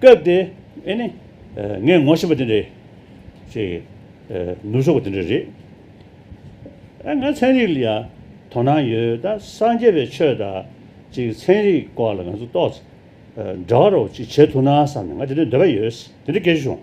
སྐབས་དེ་ཨེ་ནི། ངས་ངོ་ཤེས་པ་དེ་འདྲའི། ཅེས། ནུབ་ཕྱོགས་པ་དེ་འདྲ་རེད། ཨ་ང་ཚན་རིག་ལ་ཡང་དོ་སྣང་ཡོད་ད་སངས་རྒྱས་པའི་ཆོས་དང། ཅིག་ཚན་རིག་སྐོར་ལ་ང་ཚོ་ཏོག་ཙེ། འདྲ་བ་རོགས་ཅིག་བྱེད་ཐུབ་ན་བསམ་ནས་ང་དེ་འདྲའི་འདོད་པ་ཡོད། དེ་འདྲའི་སྐད་ཆ་བྱུང།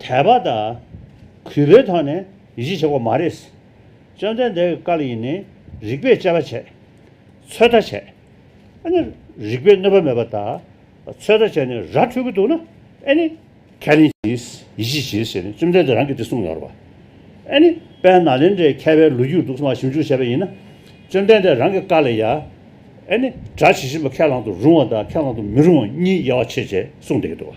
དད་པ་དང། གུས་པའི་ཐོག་ནས་གཞི་བྱེད་དགོས་མ་རེད། བཅོམ་ལྡན་འདས་ཀྱི་བཀའ་ལ་ཡིན་ནི་རིགས་པས་དཔྱད་པ་བྱས། ཚོད་ལྟ་བྱས། ཨ་ནི་རིགས་པས་གནོད་པ་མེད་པ་དང་ཚོད་ལྟ་བྱས་ནས་ར་འཕྲོད་ཀྱི་འདུག་ན་ཨེ་ནི། ཁས་ལེན་གྱིས་ཡིད་ཆེས་བྱེད་ཟེར་ནས་བཅོམ་ལྡན་འདས་རང་གིས་དེ་གསུངས་ཡོད་རེད། ཨེ་ནི། དཔལ་ནཱ་ལེནྡྲའི་མཁས་པའི་ལོ་རྒྱུས་དུག་སྨྲ་ཞིབ་འཇུག་བྱས་པ་ཡིན་ན། བཅོམ་ལྡན་འདས་རང་གི་བཀའ་ལ་ཡ། ཨེ་ནི། གྲྭ་ཇི་བཞིན་པ་ཁས་བླང་དུ་རུང་བ་དང་ཁས་བླང་དུ་མི་རུང་བ་གཉིས་དབྱེ་བ་ཕྱེད་བཅས་གསུངས་བསྡད་ཀྱི་འདུག།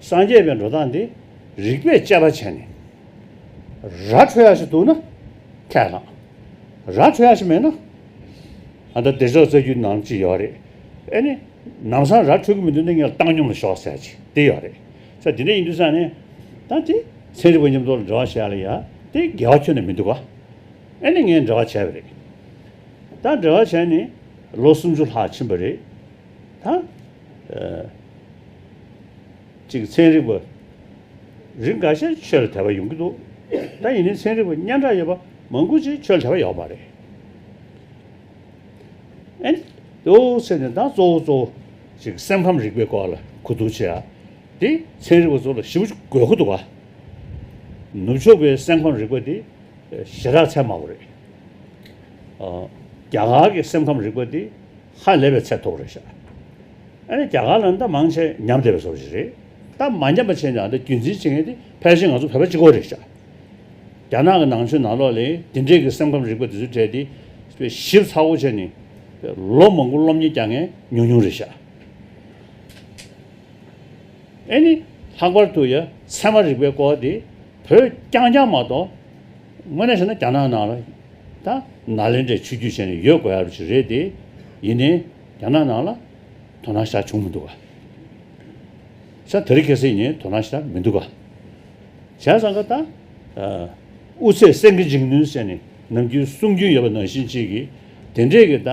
སངས་རྒྱས་པའི་འགྲོ་སྟངས་འདི་རིག་པས་དཔྱད་པ་བྱས་ནས། ར་འཕྲོད་ཡག་ཞིག་འདུག་ན་ཁས་བླངས། ར་འཕྲོད་ཡག་ཞིག་མེད་ན། ཨ་མདའ་བདེ་ཕྱོགས་རྩ་རྒྱུད་ནང་ཅི་ཡོད་རེད། ཨེ་ནི། ནམ་སང་ར་འཕྲོད་གི་མི་འདུག་ན་ངས་བཏང་སྙོམས་ལ་ཞོགས་ཟེར་གྱི་དེ་ཡོད་རེད། ས་འདི་འདྲ་ཡིན་འདུག་ས་ནས། ད་དེ་ཚན་རིག་པ་མཉམ་འདོགས་ལ་འབྲེལ་བ་བྱས་ལ་ཡ་དེ་འགལ་བ་ཁྱོན་ནས་མི་འདུག་ག། ཨེ་ནི་ངས་འབྲེལ་བ་བྱས་པ་རེད། ད་འབྲེལ་བ་བྱས་ནས་ལོ་སུམ་ཅུ་ལྷག་ཕྱིན་པ་རེད། ད། ཅིག་ཚན་རིག་པ་རིགས་འགའ་ཤས་ཆོས་ལ་དད་པ་ཡོང་གི་འདུག་ད་ཡིན་ནའི་ཚན་རིག་པ་སྙན་གྲགས་ཡོད་པ་མང་པོ་ཅིག་ཆོས་ལ་དད་པ་ཡོད་པ་རེད། ཨཱ་ནི་འོ་ཟེར་ནས་ད་གཙོ་བོ་གཙོ་བོ་ཅིག་སེམས་ཁམས་རིག་པའི་སྐོར་ལ་གོ་བསྡུར་བྱེད་ཨ་དེ་ཚན་རིག་པ་ཚོ་ལ་ཞིབ་དགོས་ཁོ་འདུག་ཨ། ནུབ་ཕྱོགས་པའི་སེམས་ཁམས་རིག་པ་དེ་ཞེ་དྲག་ཚད་དམའ་བོ་རེད། རྒྱ་གར་གྱི་སེམས་ཁམས་རིག་པ་དེ་ཧ་ལས་པའི་ཚད་ཐོག་རེད་ཤག་ཨ་ནི་རྒྱ་གར་ལ་འདི་མང་ཆེ་ཉམས་བསྡད་པའི་ཟོག་ཞིག་རེད་ད་མ་ཉམས་པ་བྱས་ནའང་འདི་རྒྱུན་འཛིན་བྱེད་མཁན་དེ་ཕལ་ཆེར་ང་ཚོ་བོད་པ་གཅིག་གོ་རེད་ཤག་རྒྱ་ནག་གི་ནང་ཆོས་ནང་ལོག་ལས་དེ་འདྲས་ཀྱི་སེམས་ཁམས་རིག་པ་དེ་ཚོ་བྲལ་ཏེ་ཞིབ་ཚགས་པོ་བྱས་ནས་ལོ་མང་པོ་སློབ་གཉེར་བསྐྱང་མཁན་ཉུང་ཉུང་རེད་ཤག་ཨ་ནི་ལྷག་པར་དུ་ཡ་མཚན་མ་རིག་པའི་སྐོར་དེ་བོད་རྐྱང་རྐྱང་མ་གཏོགས། དངོས་གནས་བཤད་ན་རྒྱ་ནག་ནང་ལ་ད་ནཱ་ལེནྡྲའི་ཆོས་བརྒྱུད་ཅན་ཡོད་དགོས་ཡ་རོ་ཞིག་རེད་དེ། ཡིན་ནའི་རྒྱ་ནག་ནང་ལ་དོ་སྣང་ཤར་བྱུང་མི་འདུག་ག། ཤ་དེ་རིགས་གལ་སྲིད་ནི་དོ་སྣང་ཤར་མི་འདུག་ག། བྱས་ཙང་ཀ་ད། དབུ་ཚད་སེང་གེ་འཇིགས་ནུས་ཟེར་ནས་ནམ་རྒྱུན་གསུང་རྒྱུན་ཡོད་པ་ནང་བཞིན་ཅིག་གིས་དེ་འདྲས་ཀྱི་ད།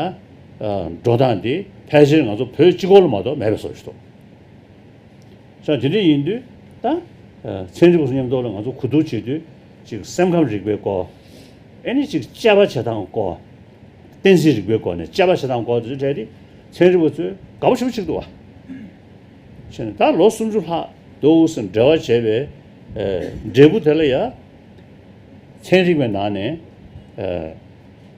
འགྲོ་སྟངས་དེ་ཕལ་ཆེར་ང་ཚོ་བོད་སྤྱི་ཁོག་ལ་མ་གཏོགས་མེད་པའི་བཟོ་བྱེད་དོ། ཅང་དེ་འདྲ་ཡིན་དུས་ད། ཚན་རིག་པ་ཚོ་མཉམ་འདོགས་ལ་ང་ཚོ་གོ་བསྡུར་བྱེད་དུས། གཅིག་སེམས་ཁམས་རིག་པའི་སྐོར། ཨེ་ནས་གཅིག་དཔྱད་པ་བྱེད་སྟངས་སྐོར། གཏན་ཚིགས་རིག་པའི་སྐོར་ནས་དཔྱད་པ་བྱེད་སྟངས་སྐོར་དེ་ཚོ་བྲལ་ཏེ། ཚན་རིག་པ་ཚོས་དགའ་པོ་བྱེད་པོ་གཅིག་འདུག་བ། ཕྱིན་ནས་ད་ལོ་སུམ་ཅུ་ལྷག་དོལ་ཨུ་སུ་འབྲེལ་བ་བྱས་པའི་འབྲས་བུ་དེ་ལ་ཡང། ཚན་རིག་པའི་ནང་ནས།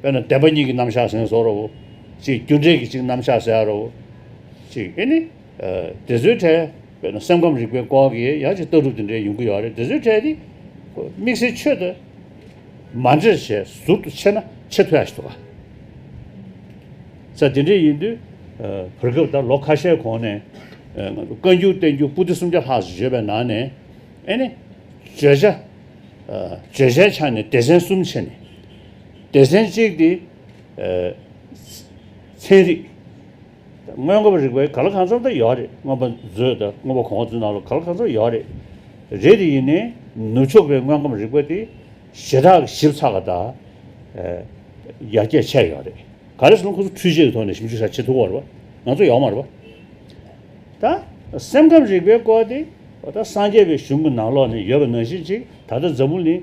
དཔེར་ན་བདེན་པ་གཉིས་ཀྱི་རྣམ་གཞག་ཟིན་སོགས་རོ། གཅིག་རྒྱུ་འབྲས་ཀྱི་གཅིག་རྣམ་གཞག་ཟེར་རོ། གཅིག་ཨེ་ནི། དེ་ཚོའི་གྲས། དཔེར་ན་སེམས་ཁམས་རིག་པའི་སྐོར་གྱི་ཡང་ཅིག་ལྟ་གྲུབ་དེ་འདྲའི་ཡོང་གི་ཡོད་རེད་དེ་ཚོའི་གྲས་ནི། དམིགས་བསལ་ཆོས་དང། མ་འདྲེས་ཞེས་ཟུར་དུ་ཕྱེ་ན་ཆེས་མཐོ་ཡག་ཤོས་དགའ། ས་དེ་འདྲས་ཡིན་དུས། བར་སྐབས་ད་ལོ་ཁ་ཤས་གོང་ནས། བཀའ་འགྱུར་བསྟན་འགྱུར་པུསྟི་སུམ་བརྒྱ་ལྷག་བརྗོད་པའི་ནང་ནས། ཨེ་ནི། བརྗོད་བྱ། བརྗོད་བྱའི་ཆ་ནས་སྡེ་ཚན་གསུམ་ཕྱེ་ནས། སྡེ་ཚན་གཅིག་སྟེ། ཚན་རིག། སྔོན་འགོག་རིག་པའི་ག་ལ་གང་འཚམ་དུ་ཡོད་རེད་སྔོན་པ་མཛོད་དང་སྔོན་པ་གོང་མཛོད་ནང་ལ་ག་ལ་གང་འཚམ་ཡོད་རེད། རེད་དེ་ཡིན་ནས་ནུབ་ཕྱོགས་པའི་སྔོན་འགོམ་རིག་པ་དེ་ཞེ་དྲག་ཞིབ་ཚགས་དང། ཡར་རྒྱས་ཆེ་ཡོད་རེད། ག་རེ་ཟེར་ན་ཁོ་ཚོ་འཕྲུལ་ཆས་ཀྱི་ཐོག་ནས་ཞིབ་འཇུག་བྱ་ཆེད་ཐུག་པ་རེད་པ། ང་ཚོ་ཡོག་མ་རེད་པ། ད། སེམས་ཁམས་རིག་པའི་སྐོར་དེ། ད་སངས་རྒྱས་པའི་གཞུང་གི་ནང་ལོགས་ནས་ཡོད་པ་ནང་བཞིན་ཅིག་ད་ལྟ་འཛམ་བུ་གླིང།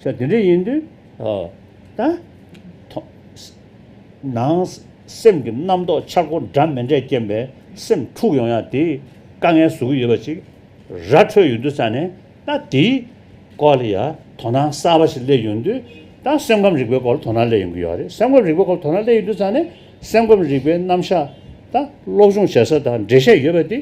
ཤ་དེ་འདྲ་ཡིན་དུས། ད། ནང། སེམས་ཀྱི་རྣམ་རྟོག་འཆར་སྒོ་འདྲ་མི་འདྲས་རྐྱེན་པས་སེམས་འཁྲུགས་ཡོང་ཡང་དེ། དཀའ་ངལ་བཟོ་གི་ཡོད་པ་ཅིག། ར་འཕྲོད་ཡོད་དུས་ས་ནས་ད་དེའི། སྐོར་ལ་ཡ། དོ་སྣང་གསར་པ་ཞིག་སླེབས་ཡོང་དུས། ད་སེམས་ཁམས་རིག་པའི་སྐོར་ལ་དོ་སྣང་སླེབས་ཡོང་གི་ཡོད་རེད་སེམས་ཁམས་རིག་པའི་སྐོར་ལ་དོ་སྣང་སླེབས་ཡོད་དུས་ས་ནས། སེམས་ཁམས་རིག་པའི་རྣམ་གཞག། ད། སློབ་སྦྱོང་བྱེད་ས་དང་འབྲེལ་བཤད་ཡོད་པ་དེ།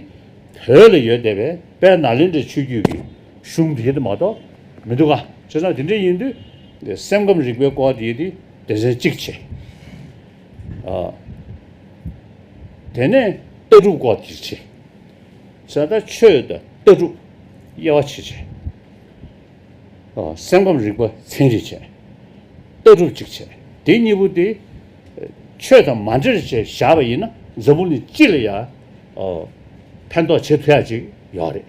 བོད་ལ་ཡོད་བསྡད་པས་དཔལ་ནཱ་ལེནྡྲའི་ཆོས་བརྒྱུད་ཀྱི། གཞུང་དེ་འདི་མ་གཏོགས་མི་འདུག་ག་བྱས་ཙང་དེ་འདྲ་ཡིན་དུས་སེམས་ཁམས་རིག་པའི་སྐོར་དེ་དེ་དེ་ཟེར་གཅིག་བྱས། དེ་ནས་ལྟ་གྲུབ་སྐོར་དེ་བྱས། ད་ལྟ་ཆོས་དང་ལྟ་གྲུབ་དབྱེ་བ་ཕྱེ་བྱས། སེམས་ཁམས་རིག་པ་ཚན་རིག་བྱས། ལྟ་གྲུབ་གཅིག་བྱས། དེ་གཉིས་པོ་དེ་ཆོས་དང་མ་འདྲེས་བྱས་བཞག་པ་ཡིན་ན་འཛམ་བུ་ནི་སྤྱི་ལ་ཡང་ཕན་ཐོགས་བྱེད་ཐུབ་ཡག་ཅིག་ཡོད་རེད།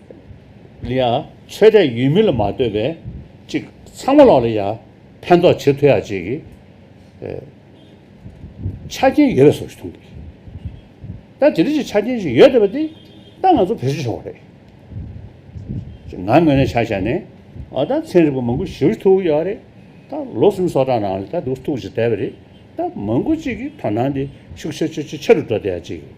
ལིའང་ཆོས་དད་ཡུལ་མི་ལ་མ་ལྟོས་པའི་གཅིག་ཚང་མ་ལོག་ལ་ཡ་ཕན་ཐོགས་ཇེ་མཐོ་ཡ་གཅིག་གི་ཆ་རྐྱེན་ཡོད་པའི་སོགས་ཞིག་མཐོང་གི་ཡོད་ད་དེ་རིགས་ཀྱི་ཆ་རྐྱེན་ཞིག་ཡོད་བསྡད་པ་དེ་ད་ང་ཚོ་བེད་སྤྱོད་བྱུང་བ་རེད་ཅེས་ང་ངོས་ནས་བྱ་བྱས་ནས་ཨོ་ད་ཚན་རིག་པ་མང་པོ་ཞི་བར་ཐུག་ཡོད་རེད་ད་ལོ་གསུམ་སོ་གྲངས་ནང་ལ་ད་དུ་ཐུག་ཅིག་བསྡད་པ་རེད་ད་མང་པོ་གཅིག་གི་དོ་སྣང་དེ་ཤུགས་ཆེ་ཆེ་ཆེ་ཆེ་རུ་འགྲོ་བསྡད་ཡ་གཅིག་གི་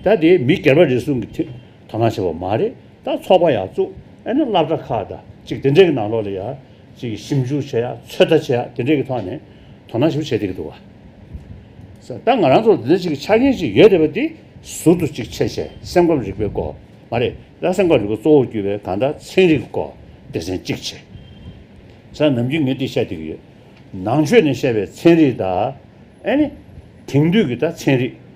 ད་དེ་མི་སྒེར་པ་རེ་ཟུང་གི་དོ་སྣང་བྱས་པ་མ་རེད་ད་ཚོགས་པ་ཡག་བཙུགས་ཨེ་ན་བླ་གྲྭ་ཁག་དང་གཅིག་དེ་འདྲས་ཀྱི་ནང་ལོགས་ལ་ཡག་གཅིག་ཞིབ་འཇུག་བྱེད་ཡག་ཚོད་ལྟ་བྱེད་ཡག་དེ་འདྲས་ཀྱི་ཐོག་ནས་དོ་སྣང་ཞིབ་བྱེད་དེ་གི་འདུག་བ་སེ་ད་ང་རང་ཚོར་དེ་འདྲས་གཅིག་གི་ཆ་རྐྱེན་གཅིག་ཡོད་དེ་བ་དེ་ཟུར་དུ་གཅིག་འཆད་བྱས་སེམས་ཁམས་རིག་པའི་སྐོར་མ་རེད་ད་སེམས་ཁམས་རིག་པ་གཙོ་བོར་གྱུར་པའི་གང་ལྟར་ཚན་རིག་གི་སྐོར་སྡེ་ཚན་གཅིག་བྱས་ས་ནམ་རྒྱུན་ངས་དེ་བཤད་དེ་གི་ཡོད་ནང་ཆོས་ནས་བཤད་པའི་ཚན་རིག་དང་ཨེ་ནི་དེང་དུས་ཀྱི་ད་ཚན་རིག།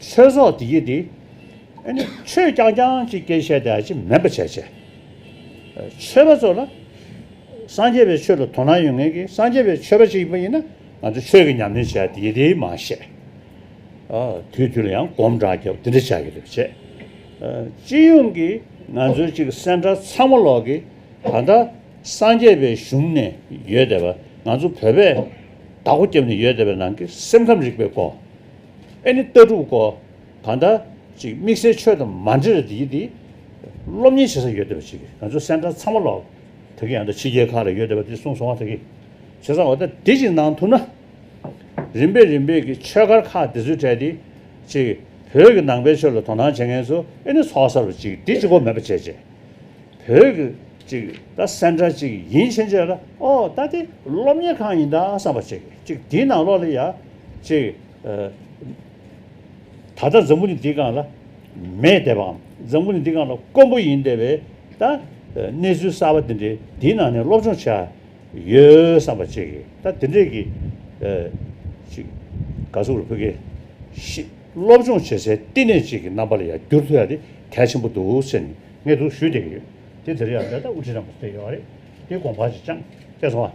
ཆོས་སོགས་དེ་ཡིས་ཏེ། ཨེ་ནས་ཆོས་རྐྱང་རྐྱང་ཅིག་སྐད་བཤད་དེ་ཨ་ཅེ་མེད་པར་བྱས། ཆོས་པ་ཚོ་ལ་སངས་རྒྱས་པའི་ཆོས་ལ་དོ་སྣང་ཡོད་ངེས་ཀྱི་སངས་རྒྱས་པའི་ཆོས་པ་ཅིག་ཡིན་པ་ཡིན་ན་ང་ཚོ་ཆོས་ཀྱི་ཉམས་ལེན་བྱས་དེ་ཡིས་ཏེ་མ་བཤད། དུས་དུས་ལ་ཡང་སྒོམ་དྲག་རྒྱག་པ་དེ་འདྲ་བྱ་གི་རེད་བྱས། སྤྱི་ཡོངས་ཀྱི་ང་ཚོའི་གཅིག་སེམས་ཁྲལ་ཚང་མ་ལོག་གི་ད་ལྟ་སངས་རྒྱས་པའི་གཞུང་ནས་ཡོད་དེ་བ་ང་ཚོ་བོད་པས་བདག་པོ་རྒྱབ་ནས་ཡོད་དེ་བའི་ནང་གི་སེམས་ཁམས་རིག་པའི་སྐོར། ཨེ་ནི་ལྟ་གྲུབ་གོ། ད་ལྟ། ཅིག་དམིགས་བསལ་ཆོས་དང་མ་འབྲེལ་རེད་ཡིན་དེ། སློབ་གཉེར་བྱེད་ས་ཡོད་བསྡད་པ་ཅིག་གིས་ང་ཚོ་སེམས་ཁྲལ་ཚང་མ་ལོག། ད་གིན་ཡང་ད་ཕྱི་རྒྱལ་ཁག་ལ་ཡོད་བསྡད་པ་དེ་གསུངས་སོང་བ་ད་གིན། བྱས་ཙང་འོ་ད་དེ་ཅིག་གནང་ཐུབ་ན། རིམ་པས་རིམ་པས་ཀྱི་ཆོས་སྒར་ཁག་དེ་ཚོས་བྲལ་ཏེ། ཅིག་བོད་ཀྱི་ནང་པའི་ཆོས་ལ་དོ་སྣང་བྱེད་མཁན་ཚོ་ཨེ་ནི་ཚོགས་གསར་བ་ཅིག་གིས་དེ་ཅིག་གོ་མེད་པ་བྱས་བྱས། བོད་ཀྱི་ཅིག་ད་སེམས་འདྲ་ཅིག་ཡིན་ཕྱིན་ཆད་ལ་ཨོ་ད་དེ་སློབ་གཉེར་ཁང་ཡིན་ད་བསམ་པ་ཅིག་ཅིག་དེའི་ནང་ལོགས་ལ་ཡ་ཅིག་ད་ལྟ་འཛམ་བུ་ནི་འདི་གང་ལ་མེད་བསྡད་པའམ་འཛམ་བུ་ནི་འདི་གང་ལ་དཀོན་པོ་ཡིན་བསྡད་པའི་ད་གནས་ཚུལ་གསར་བ་འདི་འདྲའི་འདིའི་ནང་ནས་སློབ་སྦྱོང་བྱས་ཡོད་བསམ་པ་ཅིག་ད་འདི་འདྲས་ཀྱི་ཅིག་དགའ་ཚོར་བུ་གའི་ཤིས་སློབ་སྦྱོང་བྱེད་སའི་བསྟི་གནས་ཅིག་གི་རྣམ་པ་ལ་ཡ་འགྱུར་ཐུག་ཡ་དེ་གལ་ཆེན་པོ་འདུག་ཟེར་ནས་ངས་འདུག་ཞུས་བསྡད་ཀྱི་ཡོད། དེ་དེར་ཡང་བསྡད་ད་དབུ་ཁྲིད་རང་དགོས་ཚོད་ཡོད་རེད། དེ་དགོངས་པ་ཅིག་ཅང་སྐྱེས་སོང་ཨ།